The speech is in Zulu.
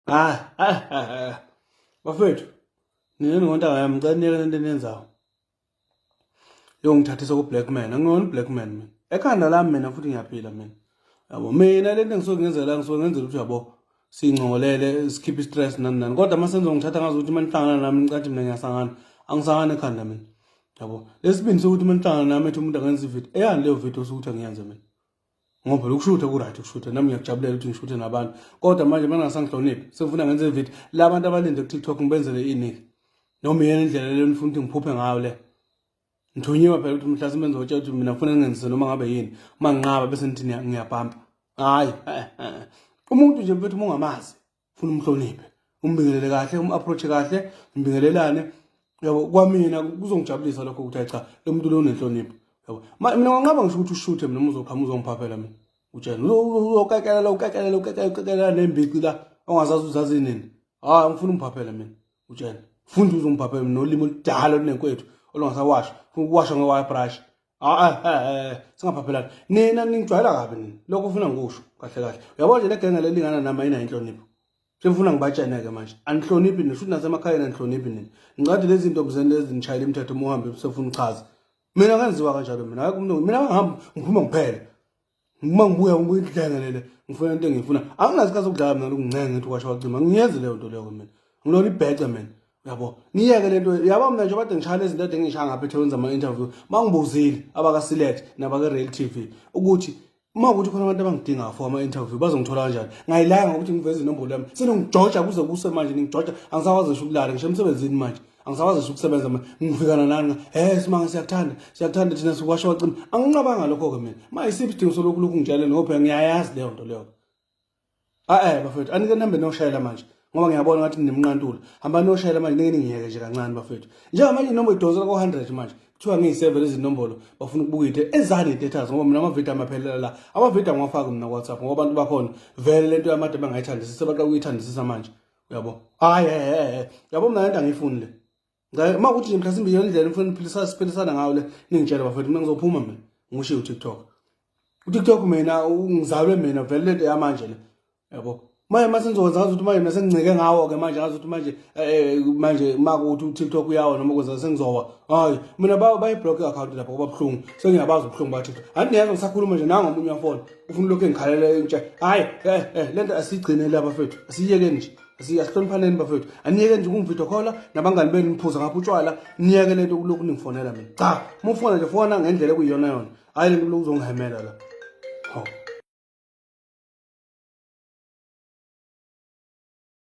hayi hayi hayi bafethu nina ningontanga yami ngicela niyeke lento eniyenzayo yongithathisa ku-black man angingona u-black man mina ekhanda lami mina futhi ngiyaphila mina yabo mina lento engisuke ngenzela ngisuke ngenzela ukuthi yabo singcolele sikhiphe i-stress nani nani kodwa uma senza ngithatha ngazi ukuthi uma nihlangana nami nicathi mina ngiyasangana angisangana ekhanda mina yabo lesibindi sokuthi uma nihlangana nami ethi umuntu angenza ividiyo eyani leyo vidiyo osukuthi angiyenze mina ngoba phela ukushutha ku-right ukushutha nami ngiyakujabulela ukuthi ngishuthe nabantu kodwa manje uma ningasangihloniphi sengifuna ngenze ividiyo la bantu abalinde kutiktok ngibenzele iniki noma iyena indlela leyo nifuna ukuthi ngiphuphe ngayo le ngithunyiwe phela ukuthi mhlasimbe ngizotshela ukuthi mina ngifuna ngenzise noma ngabe yini uma nginqaba bese nithi ngiyabhampa hhayi eh, eh, eh. umuntu nje mfethu uma ungamazi funa umhloniphe umbingelele kahle um-approach kahle mbingelelane yabo kwamina kuzongijabulisa lokho ukuthi cha lo muntu lo unenhlonipho yabo mina nganqaba ngisho ukuthi ushuthe mina uzoqhamuka uzongiphaphela mina utshena uzokakelela ukakelela ukakelela nembici la ongazazi uzazi nini hayi ngifuna umphaphela mina utshena funda uzongiphaphela mina nolimi oludala olunenkwethu olungasawasha funa ukuwasha nge-wire brush hayi singaphaphelani nina ningijwayela kabi nina lokho ufuna ngikusho kahle kahle uyabo nje legenge lelingana nami ayinayo inhlonipho sengifuna ngibatshene-ke manje anihloniphi nina shuthi nasemakhayeni anihloniphi nina ngicade lezi zinto mzeni lezi nishayela imithetho uma uhambe usefuna uchaza mina ngenziwa kanjalo mina mina ngihambe ngiphuma ngiphele uma ngibuya ngikudlenga lele ngifuna into engiyifuna anginasikhathi sokudlala mina lokuncenga ngithi kwasha wacima ngiyenzi leyo nto leyo mina ngilona ibhece mina yabo niyeke le nto yabo mina nje kade ngishaya lezi nto ade ngishaya ngapha ethekwini zama-interview ma ngibuzile abaka-select nabake-rail t v ukuthi uma ukuthi khona abantu abangidingayo for ama-interview bazongithola kanjani ngayilanga ngokuthi ngiveze inombolo yami senongijoja kuze kuse manje ningijoja angisakwazi ngisho ukulala ngisho emsebenzini manje angisakwazisa ukusebenza manje ngifikana nani he simanga siyakuthanda siyakuthanda thina sikwasho wacima anginqabanga lokho-ke mina ma isiphi isidingo solokhu lokhu ngitshale nophela ngiyayazi leyo nto leyo a-e bafethu anike nihambe niyoshayela manje ngoba ngiyabona ngathi nimnqantula hamba niyoshayela manje nike ningiyeke nje kancane bafethu njengamanje inoma idonsela ko-hundred manje kuthiwa ngiyi-seven izinombolo bafuna ukubuka into ezani i-datas ngoba mina amavidiyo amaphelela la amavidiyo angiwafaki mina ku-whatsapp ngoba abantu bakhona vele le nto yamade bangayithandisisi sebaqala ukuyithandisisa manje uyabo hayi ehe yabo mna lento angiyifuni le uma kuthi nje mhlasimbe iyo ndlela ngifuna niphilisa siphilisana ngayo le ningitshele bafethu mina ngizophuma mina ngishiye utiktok utiktok mina ngizalwe mina vele lento yamanje le yabo manje uma sengizokwenza ngazi ukuthi manje mina sengincike ngawo-ke manje ngazi ukuthi manje um manje uma kuthi utiktok uyawo noma kwenza sengizowa hayi mina bayi-block i-akhawunti lapho kuba buhlungu sengiyabazi ubuhlungu bathiktok andinezo ngisakhuluma nje nangomunye wafona ufuna lokhu engikhalela entsha hhayi eh, eh, le nto asiyigcine la bafethu asiyiyekeni nje asihloniphaneni bafethu aniyeke nje ukungividiyo khola nabangani benu niphuza ngapha utshwala niyeke le nto kulokhu ningifonela mina cha uma ufona nje fona ngendlela ekuyiyona yona hhayi le nto kulokhu uzongihemela la hawu